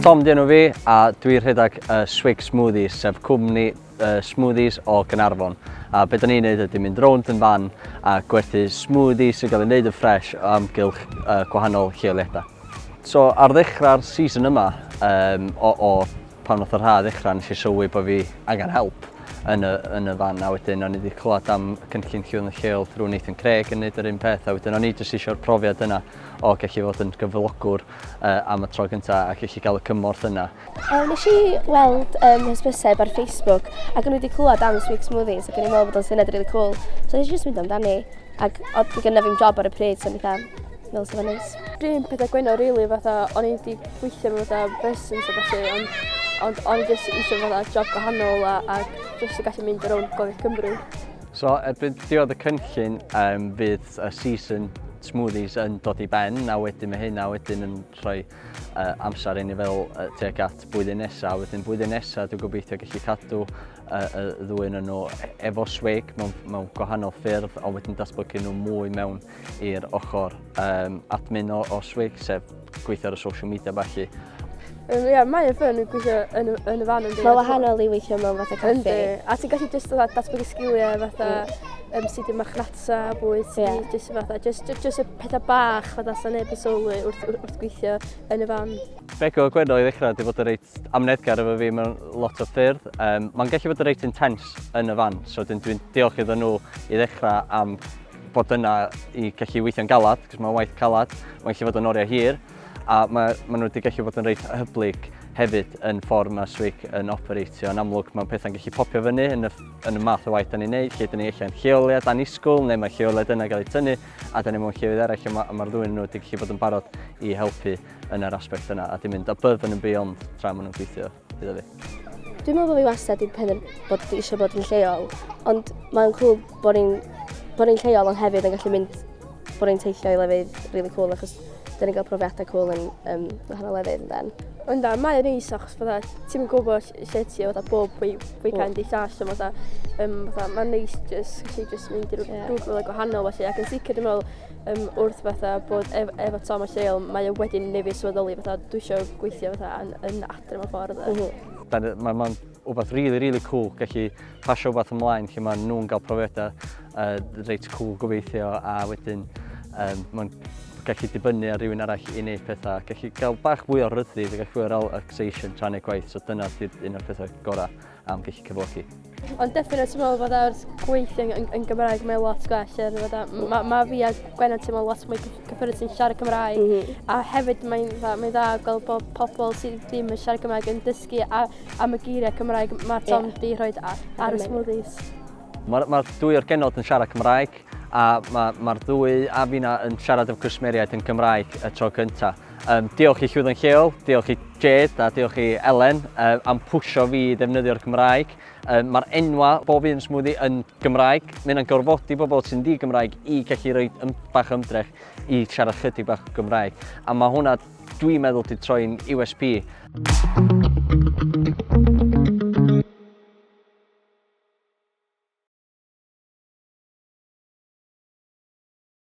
Tom dyn nhw fi a dwi rhedeg y uh, Swig Smoothies, sef cwmni uh, smoothies o Gynarfon. A beth ni'n neud ydy mynd rownd yn fan a gwerthu smoothies sy'n cael ei wneud yn ffres o amgylch uh, gwahanol lleoliadau. So ar ddechrau'r season yma um, o, o Pan nath yr haf ddechra nes i sylwi bo' fi angen help yn y yn y fan a wedyn o'n i 'di clywad am cynllun Cŵn y Lleol drw Nathan Craig yn neud yr un peth a wedyn o'n i jyst isio'r profiad yna o gellu fod yn gyflogwr uh, am y tro gynta a gellu cael y cymorth yna. Um, nes i weld um, hysbyseb ar Facebook ac o'n i wedi clywed am Sweet Smoothies ac o'n i'n meddwl bod o'n syniad really cool. So nes i jyst mynd amdani ac oedd gyda fi'n job ar y pryd so o'n i Fel sy'n neis. Dim pethau gwennol rili really, fatha o'n i wedi gweithio mewn fatha business a falle ond ond o'n i jyst eisiau fatha job gwahanol a, a jyst i gallu mynd ar ôl gofio Cymru. So erbyn diod y cynllun um, fydd y season smoothies yn dod i ben a wedyn mae hynna wedyn yn rhoi uh, amser i ni fel uh, tuag at bwyddyn nesaf. Wedyn bwyddyn nesaf dwi'n gobeithio gallu cadw uh, y ddwy yn nhw e-, efo swig mewn, mewn gwahanol ffyrdd ond wedyn datblygu nhw mwy mewn i'r ochr um, admin o, o SWIG, sef gweithio ar y social media felly. Um, yeah, mae yn ffyn gweithio yn, yn y fan yn di. Mae wahanol i weithio mewn fatha caffi. Yndi. A ti'n gallu just fatha datblygu sgiliau fatha mm. um, sydd i'n marchnata, bwyd, sydd yeah. just fatha, just, just, just y pethau bach fatha sy'n neb yn sylwi wrth, wrth, wrth gweithio yn y fan. Bego Gwenno i ddechrau wedi bod yn reit amnedgar efo fi mewn lot o ffyrdd. Um, Mae'n gallu bod yn reit intense yn y fan, so dwi'n diolch iddyn nhw i ddechrau am bod yna i gallu weithio'n galad, cos mae'n waith calad, mae'n gallu fod yn oriau hir, a mae, maen nhw wedi gallu bod yn reit hyblyg hefyd yn ffordd mae Swick yn operatio. Yn amlwg, mae'n pethau'n gallu popio fyny yn y, yn y math o waith da ni'n neud, lle da ni allan lleoliad dan isgwl, neu mae lleoliad yna gael ei tynnu, a da ni mewn llefydd eraill, a mae'r ma ddwy'n nhw wedi gallu bod yn barod i helpu yn yr aspect yna, a di mynd a bydd yn yn beyond tra maen nhw'n gweithio. Bydd o fi. Dwi'n meddwl bod fi wastad wedi penderfynu bod fi eisiau bod yn lleol, ond mae'n cool bod ni'n bod ni'n lleol ond hefyd yn gallu mynd bod ni'n teithio i lefydd rili really cool achos dyn ni'n cael profiadau cool yn um, wahanol lefydd yn dan. Ond da, mae'n neis achos fydda, ti'n gwybod lle ti o fydda bob fwy fwy cael di llall, so fydda, um, fydda, mae'n neis jyst, gallu jyst mynd i'r yeah. rhywbeth gwahanol felly, ac yn sicr dwi'n meddwl um, wrth fatha bod ef, efo Tom a Lleol, mae o wedyn nefi swyddoli fatha dwi eisiau gweithio fatha yn, yn adre mewn ffordd. Mm -hmm. Mae'n ma wbeth really, really cool gallu pasio wbeth ymlaen lle mae nhw'n cael profiadau uh, reit cool gobeithio a wedyn um, mae'n gallu dibynnu ar rhywun arall i wneud pethau, gallu cael bach fwy o ryddid a gallu fwy o relaxation tra'n ei gwaith, so dyna sydd un o'r pethau gorau. am gallu cyflogi. Ond definitely ti'n meddwl bod ar gweithio yn, yn Gymraeg mae'n lot gwell. Er, mm. mae ma fi a Gwenna ti'n meddwl lot mwy cyffyrdd sy'n siarad Cymraeg. Mm -hmm. A hefyd mae'n dda, mae dda gweld bod pobl sydd ddim yn siarad Cymraeg yn dysgu a, am y geiriau Cymraeg mae Tom yeah. di rhoi ar, ar y smoothies. Mae'r ma dwy o'r genod yn siarad Cymraeg a mae'r ma ddwy a fi'na yn siarad efo cwsmeriaid yn Gymraeg y tro cyntaf. Um, diolch i Llwyddo'n Lleol, diolch i Jade a diolch i Elen um, am pwysio fi i ddefnyddio'r Gymraeg. Um, Mae'r enwa bob un smwddi yn Gymraeg. Mae yna'n gorfodi bobl sy'n di Gymraeg i gallu rhoi ym, bach ymdrech i siarad chydig bach Gymraeg. A mae hwnna, dwi'n meddwl, di troi'n USP.